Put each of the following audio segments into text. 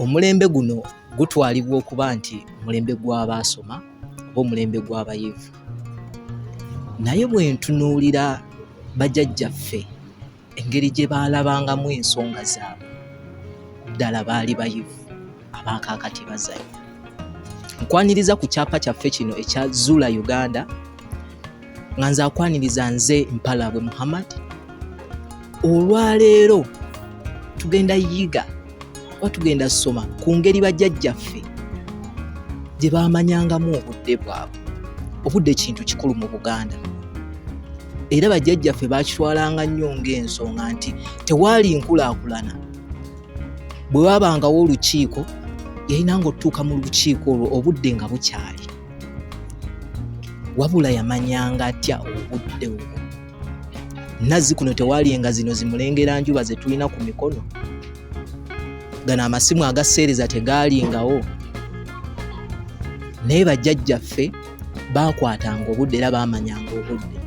Omulembe guno gutwalibwa okuba nti mulembe gw'abaasoma oba omulembe gw'abayivu. Naye bwe ntunuulira bajajjaffe engeri gye baalabangamu ensonga zaabwe, ddala baali bayivu abaakaakati bazannya. Nkwaniriza ku kyapa kyaffe kino ekya Zuula Uganda nga nze akwaniriza nze mpalabwe muhammad olwaleero tugenda yiga oba tugenda soma ku ngeri bajjajjaffe gye baamanyangamu obudde bwabwe obudde kintu kikulu mu buganda era bajjajjaffe bakitwalanga nnyo ng'ensonga nti tewaali nkulaakulana bwe waabangawo olukiiko yalinanga otutuuka mu lukiiko olwo obudde nga bukyali wabula yamanyanga atya obudde obwo nazi kuno tewalyenga zino zimulengera njuba zetulina ku mikono gano amasimu agaseereza tegaalingawo naye bajjajjaffe baakwatanga obudde era baamanyanga obudde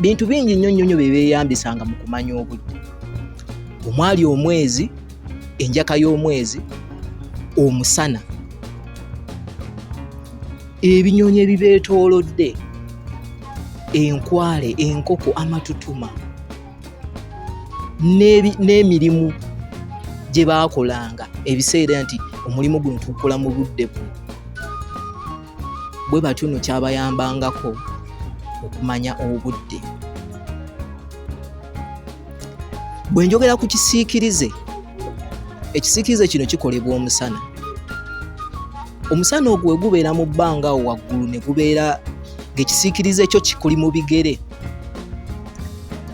bintu bingi nnyo nnyo nnyo bye beeyambisanga mu kumanya obudde omwali omwezi enjaka y'omwezi omusana ebinyonyi ebibeetoolodde enkwale enkoko amatutuma n'emirimu gye baakolanga ebiseera nti omulimu guno tugukola mu budde buno bwe batyo no kyabayambangako okumanya obudde bwe njogera ku kisiikirize ekisiikirize kino kikolebwa omusana omusana ogwo gubeera mu bbanga awo waggulu ne gubeera ng'ekisiikirize kyo kikuli mu bigere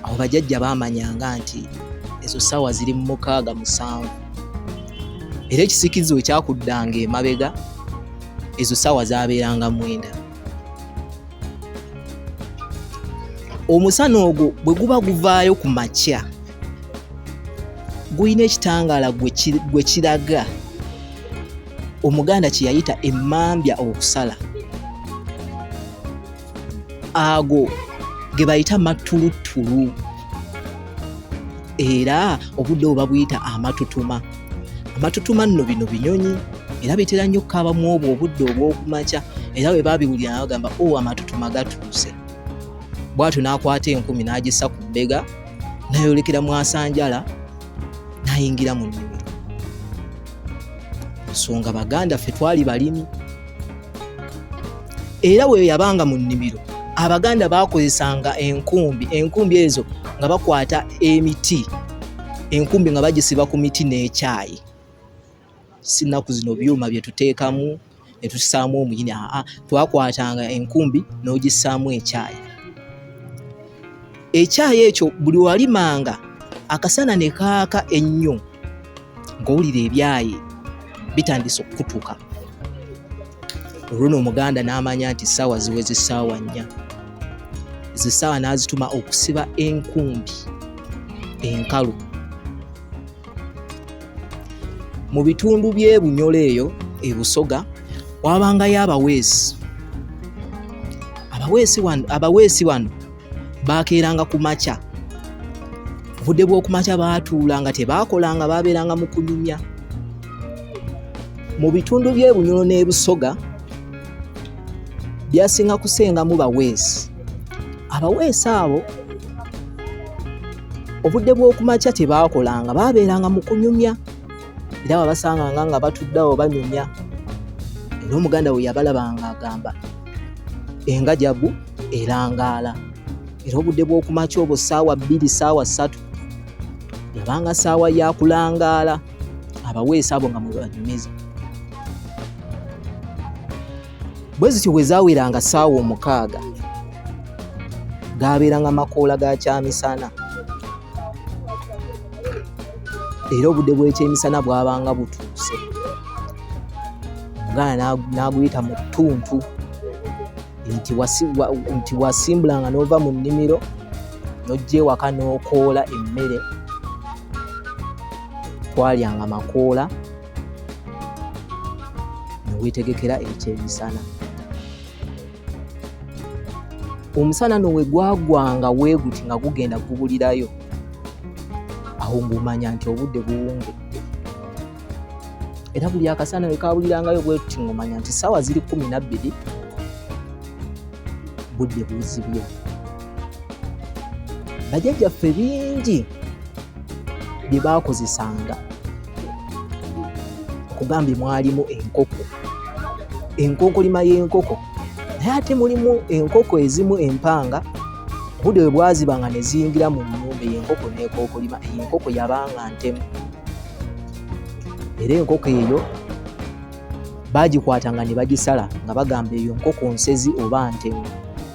awo bajajja baamanyanga nti ezo ssaawa ziri mu mukaaga musanvu era ekisiikirize we kyakuddanga emabega ezo ssaawa zaabeeranga mwenda omusana ogwo bwe guba guvaayo ku makya gulina ekitangaala gwe kiraga omuganda kyeyayita emmambya okusala ago ge bayita mattuluttulu era obudde obabuyita amatutuma amatutuma nno bino binyonyi era bitera nnyo okukaaba mu obwo obudde obw'okumakya era bwe babiwulira nga bagamba o oh, amatutuma gatuuse bw'atyo n'akwata enkumi n'agissa ku mbega n'ayolekera mwasanjala n'ayingira mu nnimiro ensonga baganda ffe twali balimi era we yabanga mu nnimiro abaganda bakozesanga enkumbi enkumbi ezo nga bakwata emiti enkumbi nga bagisiba ku miti n'ekyayi sinaku zino byuma bye tuteekamu ne tusaamu omuyini aa twakwatanga enkumbi n'ogisaamu ekyayi ekyayi ekyo buli walimanga akasana ne kaaka ennyo ng'owulira ebyayi bitandise okukutuka oluno omuganda n'amanya nti ssaawa ziweze ssaawa nnya ezo ssaawa n'azituma okusiba enkumbi enkalu mu bitundu by'e Bunyoro eyo e Busoga wabangayo abaweesi abaweesi wano abaweesi bano baakeeranga ku makya obudde bw'okumakya baatuulanga tebaakolanga baabeeranga mu kunyumya mu bitundu by'e Bunyoro n'e Busoga byasinga kusengamu baweesi abaweesi abo obudde bw'okumakya tebaakolanga baabeeranga mu kunyumya era babasanganga nga batuddeawo banyumya era omuganda we yabalabanga agamba engajagu erangaala era obudde bw'okumakya obwo ssaawa bbiri ssaawa ssatu yabanga ssaawa ya kulangaala abaweesa abo nga mwe banyumiza bwe zityo bwe zaaweranga ssaawa omukaaga gaabeeranga makoola ga kyamisana era obudde bw'ekyemisana bwabanga butuuse omuganda n'aguyita mu ttuntu nti wasimbulanga n'ova mu nnimiro n'ojja ewaka n'okoola emmere twalyanga makoola newetegekera ekyemisana omusana no wegwagwanga weguti nga gugenda gubulirayo awo ngumanya nti obudde buwungedde era buli akasana wekabulirangayo bwetuti ngumanya nti sawa ziri kumi nabbiri budde buzibye bajajjaffe bingi bye baakozesanga okugambye mwalimu enkoko enkonkolima y'enkoko naye ate mulimu enkoko ezimu empanga obudde bwe bwaziba nga ne ziyingira mu nnyumba ey'enkoko n'ekonkolima ey'enkoko yabanga ntemu era enkoko eyo baagikwatanga ne bagisala nga bagamba eyo nkoko nsezi oba ntemu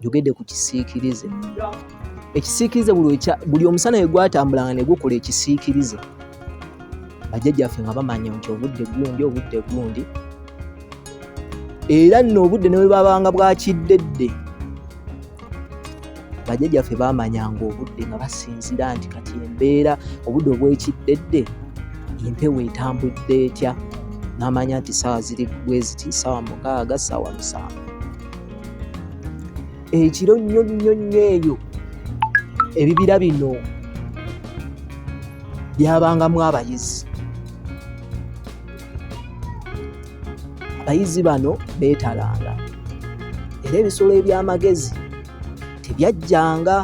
njogedde ku kisiikirize ekisiikirize buli omusana we gwatambulanga ne gukola ekisiikirize bajjajjaffe nga bamanya nti obudde gundi obudde gundi era nno obudde ne bwe babanga bwakiddedde bajjajjaffe baamanyanga obudde nga basinzira nti kati embeera obudde obwekiddedde empewo etambudde etya n'amanya nti saawa ziri bweziti saawa mukaaga saawa musanvu ekiro nnyo nnyo nnyo eyo ebibira bino byabangamu abayizi abayizi bano beetalanga era ebisolo eby'amagezi tebyajjanga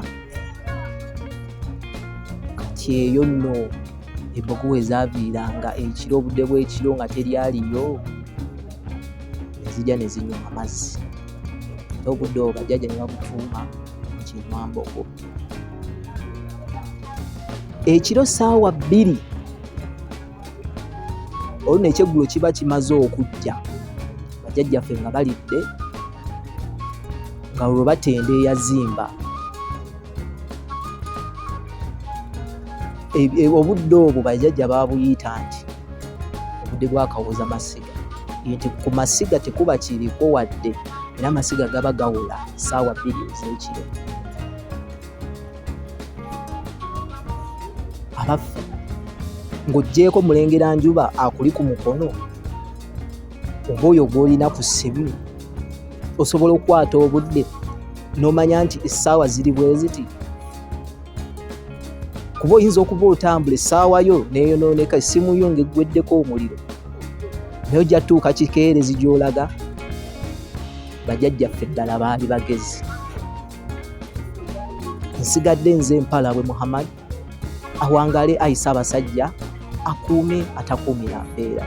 kati eyo nno ebbogowe zaaviiranga ekiro obudde bw'ekiro nga teryaliyo ne zijja ne zinywa amazzi ate obudde obwo bajjajja ne babutuuma ekinwambogo ekiro saawa bbiri oluno ekyeggulo kiba kimaze okujja bajjajjaffe nga balidde nga olwo batenda eyazimba obudde obwo bajajja babuyita nti obudde bwakawoza masiga nti ku masiga tekuba kiriko wadde era amasiga gaba gawula saawa bbiri ez'ekiro abaffe ng'oggyeeko mulengera njuba akuli ku mukono oba oyo gw'olina ku ssimu osobola okukwata obudde n'omanya nti essaawa ziri bwe ziti kuba oyinza okuba otambula essaawa yo neyonooneka essimu yo ngaeggweddeko omuliro naye ojja tuuka kikeerezi gyolaga bajajjaffe ddala baali bagezi nsigadde nze empala bwe muhammad awangale ayise abasajja akuume atakuumira mpeera